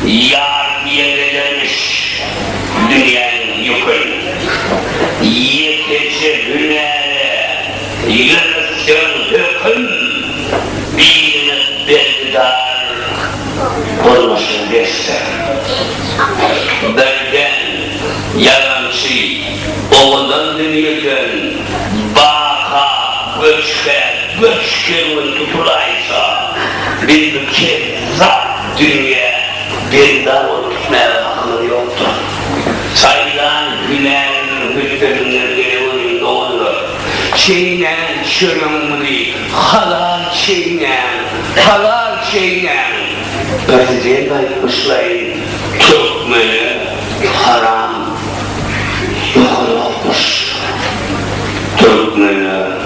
Ýar ýere dönüş, dünýäniň ýükün. Ýekeje hünäre ýörütseň höküm, birine bergidar bolmaşyn dessin. Birden ýalançy owadan dünýeden baka göçgä göç kerwen tutulaýsa, biz bu kezzap. Dünýä benda bolup gitmäge hakymyz ýokdur. Saýylan hünärimiň hülpetinden gelen önüm doňadylar. Çeýnäň çöregiňizi, halal çeýnäň, halal çeýnäň! Prezident aýtmyşlaýyn, türkmene haram ýokanokmyş. Türkmene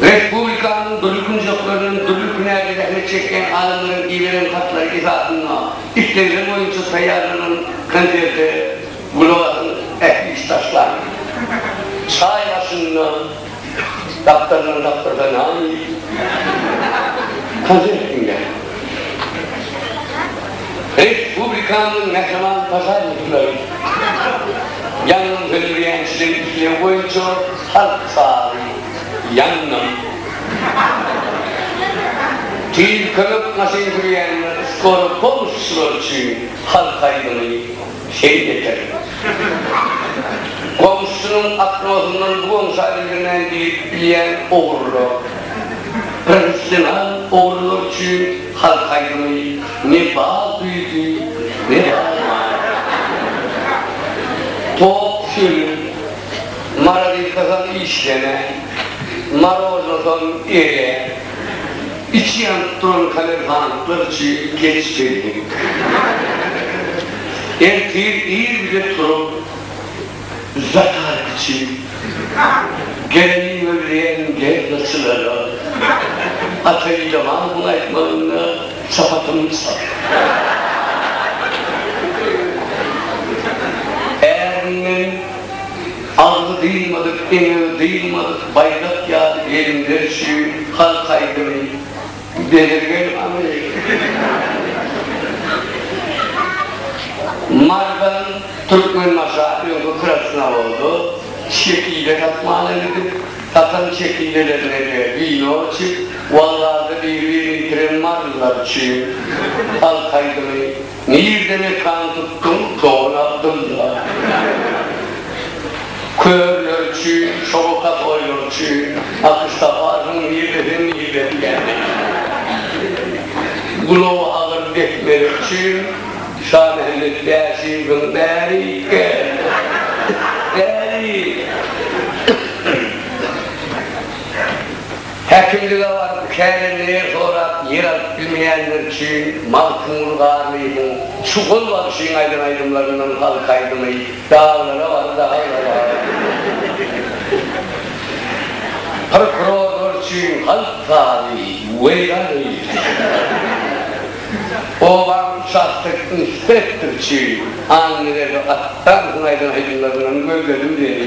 Respublikanyň dürli künjekleriniň dürli hünärde zähmet çekýän adamlaryň iberen hatlary esasynda islegler boýunça taýýarlanan konserte gulak asyň ähli işdaşlar. Çaý başynda gapdaldan gapdala name diýip konsert diňläň. Respublikamyzyň Mähriban Paşa Muhtaryň ýangyn söndürýänçiligi islew boýunça halk sazy Ýangyn tiz kömek maşyn sürýänler, skoroý pomosçylar üçin halk aýdymy. Şeýt eken. Goňşusynyň akmasyndan bu goňşa bildirmän girip bilýän ogrular. Professional ogrular üçin halk aýdymy Ne bal güýdi, ne bal nar. Top sürü, marazilkasam işlemän, marojnasam erýär. Içi ýanyp duran kalerganlyklar içi geç geldik. Ertir ir bile turup, zakaz içip, geleniň we bileýäniň gelnaçylara, ataýyjamanyň aýtmagynda, çapatymyz çal. Ärim men. Agzy dyýmadyk, eňegi dyýmadyk baýdak ýaly gelinler üçin halk aýdymy Bezirgen Aly, Mardan, Türkmenbaşa, öňki Krasnowoda çekile satmana gidip, satan çekilelerine-de wino içip, waglarda biri-birini ýitiren marylylar üçin halk aýdymy. Nirde mekan tutduň Togry Abdylla? Körler üçin, şoňa has oýlar üçin Akyş taparsyň nirde sen nirde diýäni. Gulagy agyr dehmeler üçin Şamämmet Bäşiýewiň Bäri gel, bäri! Häkimlige baryp kärendeler sorap ýer alyp bilmeýänler üçin Magtymguly Garlyýewiň şu gol bagşyň aýdan aýdymlaryndan halk aýdymy Daglara bar daglara bar Prokurorlar üçin halk sazy Weýran eýledi Obaň uçastok inspektory üçin Annaberdi Atdanowyň aýdan aýdymlaryndan Gözledim seni.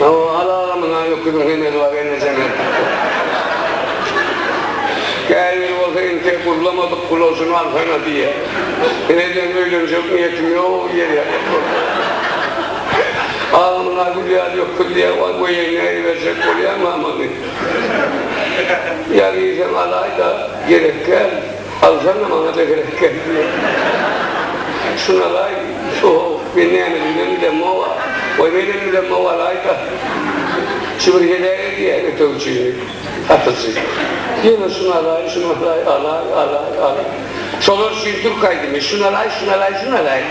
Al aga muňa öküziň hemeli bar enejeme beripdir. Käbiri bolsa entek gurlamadyk gulaşyny alsana diýýär. Ine diýen öýlenjek niýetim ýok diýýär. Aga muňa gül ýaly öküz diýýär waý goýaý näýe berjek bolýaňam ony. Ýa giýseň alaýda gerek däl. Alsana maňa da gerek gelmedi. Sunalaý, so-ow, men näme diýibem bilemog-a. Goý, menem bilemog, alaý-da. Çybr heläk edýär ötegçini satyjy. Ýene sunalaý, sunalaý, alaý, alaý, alaý. Şolar üçin türk aýdymy, Sunalaý, sunalaý, sunalaý.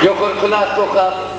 Ýokary klasda okap.